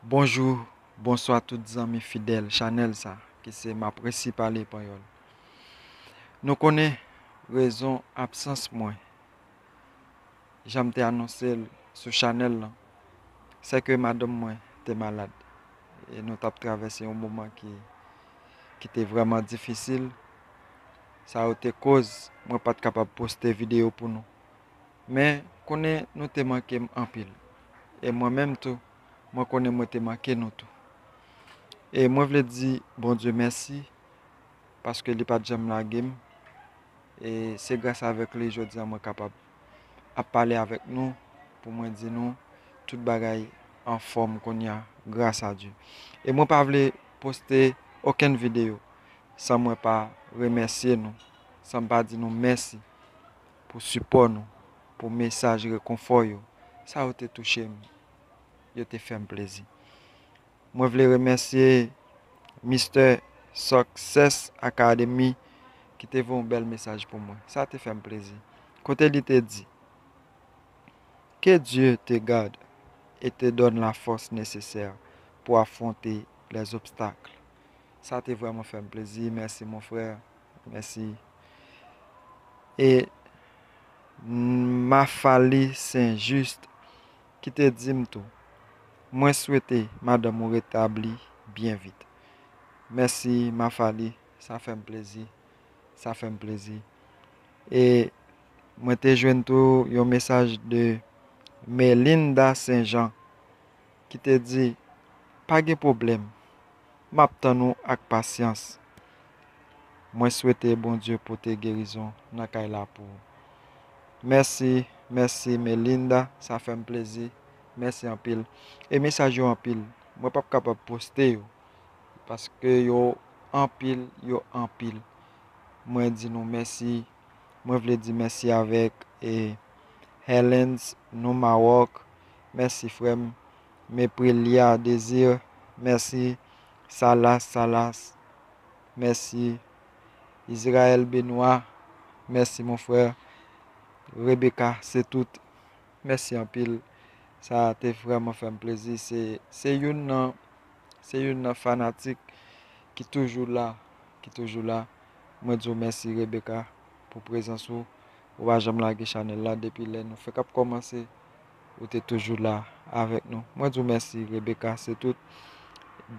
Bonjou, bonswa tout zanmi fidèl chanèl sa ki se Mapresi Pale Panyòl. Nou konnen rezon absans mwen jan m te anonse l sou chanèl lan, sè ke madanm mwen te malad e nou t ap travèse yon moman ki te vrèman difisil. Sa yo te koz mwen pa t kapab poste videyo pou nou. Men, konnen nou te manke m anpil. E mwen menm tou, mwen konnen mwen te manke nou tou. E mwen vle di Bondye mèsi. paske li pat janm lage m e se gras avèk li jodi an mwen kapab ap pale avèk nou pou mwen di nou tout bagay anfòm kounya gras a Dye e mwen pa vle poste okenn videyo san mwen pa remèsye nou san m pa di nou mèsi pou sipò nou pou mesaj rekonfò yo sa yo te touche m yo te fè m plezi Mwen vle remèsye Mister Success Academy ki te voye yon bèl mesaj pou mwen. Sa te fè m plezi. Kote li te di, Que Dieu te garde et te donne la force nécessaire pour affronter les obstacles. Sa te vrèman fè m plezi. Mèsi mon frère. Mèsi. E Maphalie Saint Juste ki te di m tou, Mwen swete madanm ou retabli byen vit. Mèsi Mafali, sa fè m plezi, sa fè m plezi. E mwen te jwenn tou yon mesaj de Melinda St-Jean ki te di, Pa gen pwoblèm. map tann ou ak pasyans mwen swete Bondye pote gerizon nan kay la pou ou mèsi mèsi Melinda sa fèm plezi mèsi anpil e mesaj yo anpil mwen pap kapab poste yo paske yo anpil yo anpil mwen di nou mèsi mwen vle di mèsi avèk e Helens nou Maroc mèsi frèm Me prelia desir merci salas salas merci israel benoit merci mon frère rebecca se tout merci anpil sa te vreman fem plezi se youn nan se youn nan fanatik ki toujou la ki toujou la mwen di w merci rebecca pou prezans ou ou pa janm lage chanel la depi lè nou fek ap komanse. Ou te toujou la avèk nou. Mwen di w mèsi Rebecca se tout.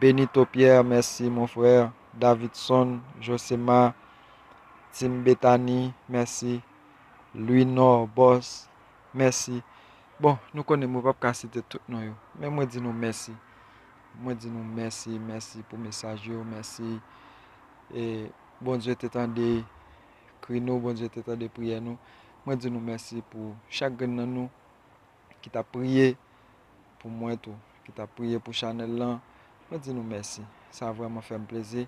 Benito Pierre mèsi mon frère. Davidson Josema Team Bethany mèsi. Louinor Boss mèsi. Bon nou konnen mwen pap ka site tout non yo. Men mwen di nou mèsi. Mwen di nou mèsi mèsi pou mesaj yo mèsi. E Bondye te tande. kri nou, Bondye te tande priyè nou. Mwen di nou mèsi pou chak grenn nan nou ki tap priye pou mwen tou, ki tap priye pou chanèl lan. Mwen di nou mèsi. Sa vrèman fè m plezi.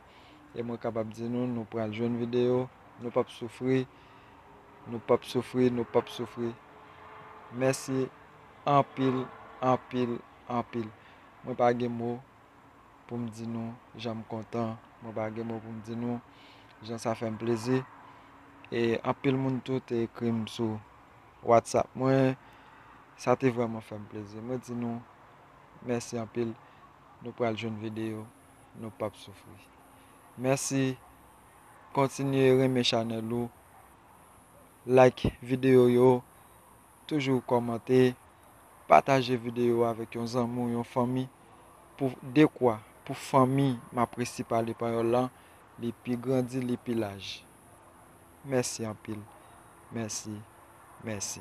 E mwen kapab di nou, nou pral jwenn videyo, nou pap soufri, nou pap soufri, nou pap soufri. Mèsi anpil, anpil, anpil. Mwen pa gen mo. pou m di nou jan m kontan, mwen pa gen mo pou m di nou jan sa fè m plezi. E anpil moun tou te ekri m sou WhatsApp mwen, sa te vrèman fè m plezi. Mwen di nou mèsi anpil, nou pral jwenn videyo, nou p ap soufri. Mèsi, kontinye renmen chanèl ou, like videyo yo. Toujou kòmante, pataje videyo avèk yon zanmi ou yon fanmi pou dekwa pou fanmi m ap resi pale panyòl lan li pi grandi li pi laj. Mèsi anpil. Mèsi. Mèsi.